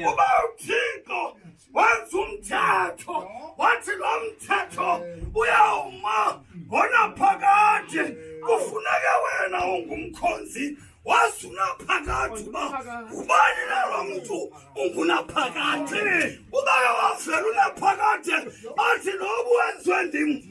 ubawuthixo wenza umthetho wathi lo mthetho uyawuma ngonaphakade kufuneke wena ungumkhonzi wazi unaphakade uba ubani nalo mntu ungunaphakade ubake wavela unaphakade athi nobu wenziwe ndim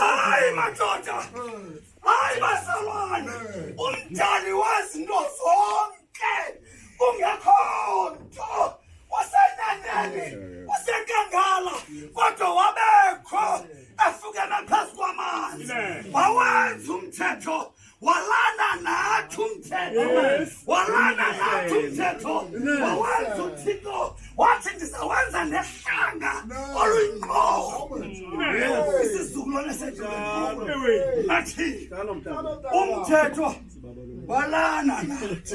Hayi madoda, hayi bazalwane, umdali wezinto zonke kungekho nto wasenyaneni wasenkangala kodwa wabekho efukeme phezu kwamanzi wawenza umthetho walana nathi umthetho walana nathi umthetho wawenza uthixo wathi ndizawenza nehlanga oluyingqoho isizukulwane sethu nathi umthetho walana nathi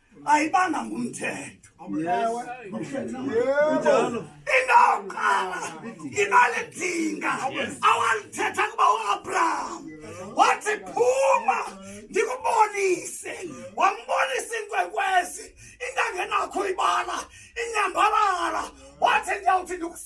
ayibanga ngumthetho indoqala inalidinga awalithetha kuba uabraham wathi phuma ndikubonise wambonisa inkwekwezi intangenakho ibala inyambalala wathi ndiyawuthi ndikus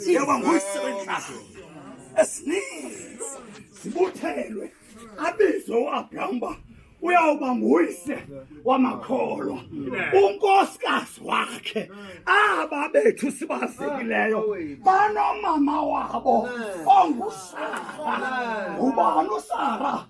njengoba nguyisebenzisa esininzi sibuthelwe abizwe uabraham uba uyawuba nguyise wamakholwa unkosikazi wakhe aba bethu sibazekileyo banomama wabo ongusara ngubani usara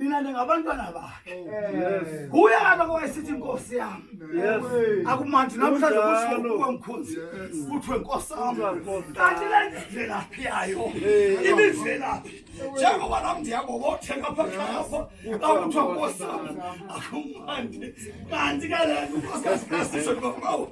nina ningabantwana bakhe oh, nguye kaloku wayesithi inkosi yam akumandi namhlanje kushoukuwe mkhonzi kuthiwe nkosi am kanti le ndimvelaphi yayo imimvelaphi njengoba nam ndiyakobothenga phaxapha akuthiwa nkosi am akumandi kanti ke le nto unkosikazi kasisho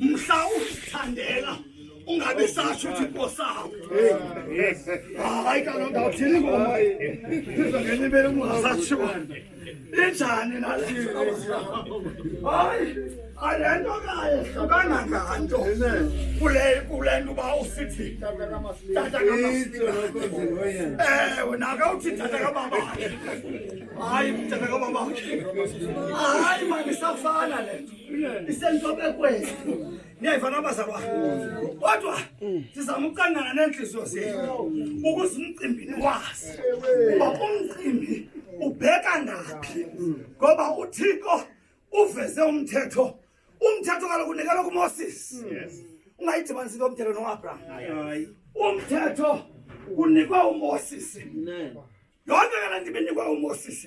mhla uzithandela ungabi satsho uthi nkosabo hayi kaloku ndawuthini ngoma izongenibele ungasatsho injani nalii hayi ale nto kaye hlukana nganto kule kule nto uba usithi tata kamasiewe naka uthi tata kababakhe hayi tata kababakhe hayi mandisafana le nto isentobekweni niyayiva nabazalwa kodwa sizama ukuqandana neentliziyo zenu ukuze umcimbi niwazi uba umcimbi ubheka naphi ngoba uthixo uveze umthetho umthetho kaloku unikelwa kumoses ungayidibanisi into yomthetho noabraham umthetho unikwe umoses yonke ke le nto ibinikwe umoses